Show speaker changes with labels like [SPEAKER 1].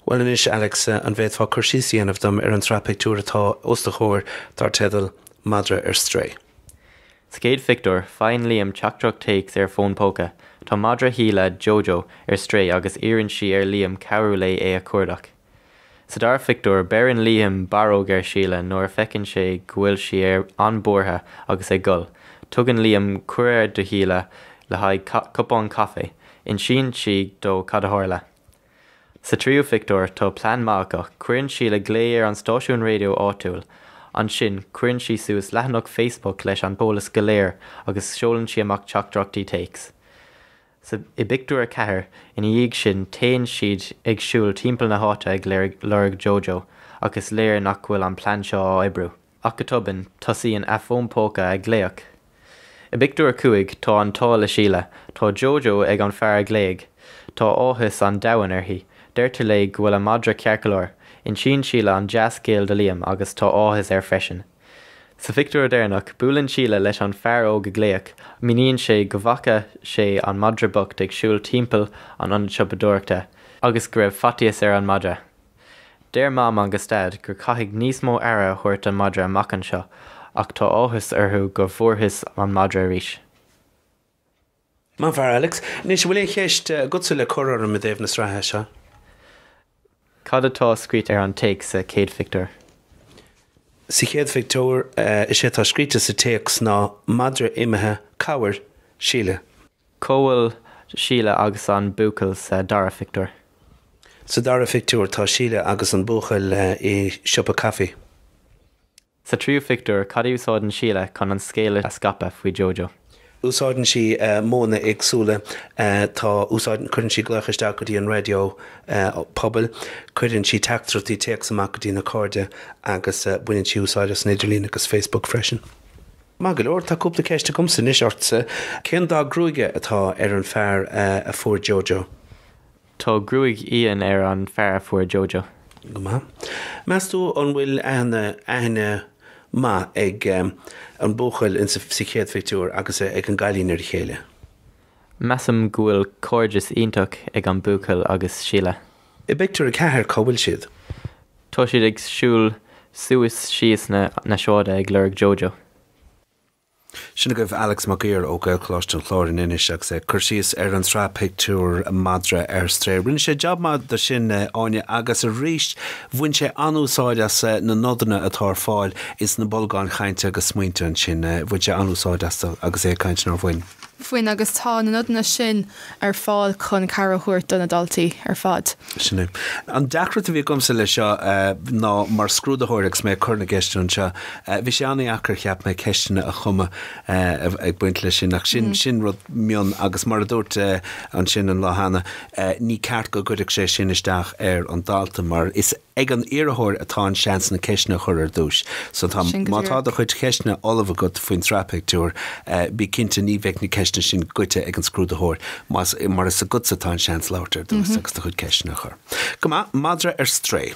[SPEAKER 1] Bhuel anois Alex, an bhféadfá cur síos a dhéanamh dom ar an tsraith pictiúr atá os do chomhair dar teideal 'Madra ar Strae'? Sa chéad phictiúr, faigheann Liam teachtaireacht téacs ar a fón póca. Tá madra Shíle, Jojo, ar strae agus iarrann sí ar Liam cabhrú léi é a chuardach. Sa dara phictiúr, beireann Liam barróg ar Síle nuair a feiceann sé go bhfuil sí ar an-bhuartha agus ag gol. Tugann Liam cuireadh do Shíle le haghaidh cupán caife. Insíonn sí dó cad a tharla. Sa tríú phictiúr, tá plean maith acu. Cuireann Síle glao ar an stáisiún raidió áitiúil. Ansin, cuireann sí suas leathanach Facebook leis an t-eolas go léir agus seolann sí amach teachtaireachtaí téacs. I bpictiúr a ceathair ina dhiaidh sin téann siad ag siúl timpeall na háite ag lorg Jojo ach is léir nach bhfuil an plean seo á oibriú. Ach go tobann tosaíonn a fón póca ag glaoch. I bpictiúr a cúig tá an t-ádh le Síle, tá Jojo ag an fear a ghlaoigh. Tá áthas an domhain uirthi. Deirtear léi go bhfuil a madra ceart go leor. Insíonn Síle an dea-scéal do Liam agus tá áthas air freisin. Sa phictiúr deireanach, buaileann Síle leis an fear óg a ghlaoigh, míníonn sé go bhfaca sé an madra bocht ag siúl timpeall an ionad siopadóireachta agus go raibh faitíos ar an madra. Deir Mam agus Daid gur chaithfidh níos mó aire a thabhairt don madra amach anseo ach tá áthas orthu gur bhfuarthas an madra arís. Maith fear Alex. Anois, an bhfuil aon cheist agatsa le cur orm i dtaobh na sraithe seo? Cad atá scríte ar an téacs sa chéad phictiúr? Sa chéad phictiúr, is é atá scríte sa téacs ná madra imithe, cabhair, Síle. Cá bhfuil Síle agus an buachaill sa dara phictiúr? Sa dara phictiúr, tá Síle agus an buachaill i siopa caife. Sa tríú phictiúr, cad a úsáideann Síle chun an scéal a scaipeadh faoi Jojo? Úsáideann sí modhanna éagsúla. Tá, úsáideann, cuireann sí glaoch isteach go dtí an raidió pobail, cuireann sí teachtaireachtaí téacs amach go dtí na cairde agus baineann sí úsáid as an idirlíon agus Facebook freisin. Maith go leor, tá cúpla ceist agamsa anois ortsa. Cén dath gruaige atá ar an fear a fuair Jojo? Tá gruaig fhionn ar an fear a fuair Jojo. Go maith. Meas tú an bhfuil aithne, aithne maith ag an buachaill in sa chéad phictiúr agus ag an gcailín ar a chéile? Measaim go bhfuil cairdeas iontach ag an buachaill agus Síle. I bpictiúr a ceathair cá bhfuil siad? Tá siad ag siúl suas síos na na sráide ag lorg Jojo. Sin agaibh Alex Mac Uidhir ó Ghaelcholáiste an Chláir in Inis agus é ag cur síos ar an tsraith pictiúr Madra ar Strae. Rinne sé jab maith de sin Áine agus arís bhain sé an-úsáid as na nodanna atá ar fáil ins na bolgáin chainte agus smaointe ansin. Bhain sé an-úsáid astu agus é ag caint nár bhain. Bhain agus tá na nodanna sin ar fáil chun cabhair a thabhairt do na daltaí ar fad. Sin é. An deacracht a bhí agamsa leis seo ná mar scrúdaitheoir agus mé ag cur na gceisteanna anseo, bhí sé an-deacair, cheap mé, ceisteanna a chumadh ag baint leis sin ach sin rud mion agus mar a dúirt ansin an lá cheana, ní ceart go gcuirfeadh sé sin isteach ar an dalta mar is. ag an iarrthóir atá an seans na ceisteanna a chur ar dtúis. So tá, má tá do chuid ceisteanna ullamh agat faoin tsraith pictiúr, bí cinnte ná beidh na ceisteanna sin goite ag an scrúdaitheoir mar is agatsa atá an seans labhairt ar dtús agus do chuid ceisteanna a chur. Go maith, madra ar strae.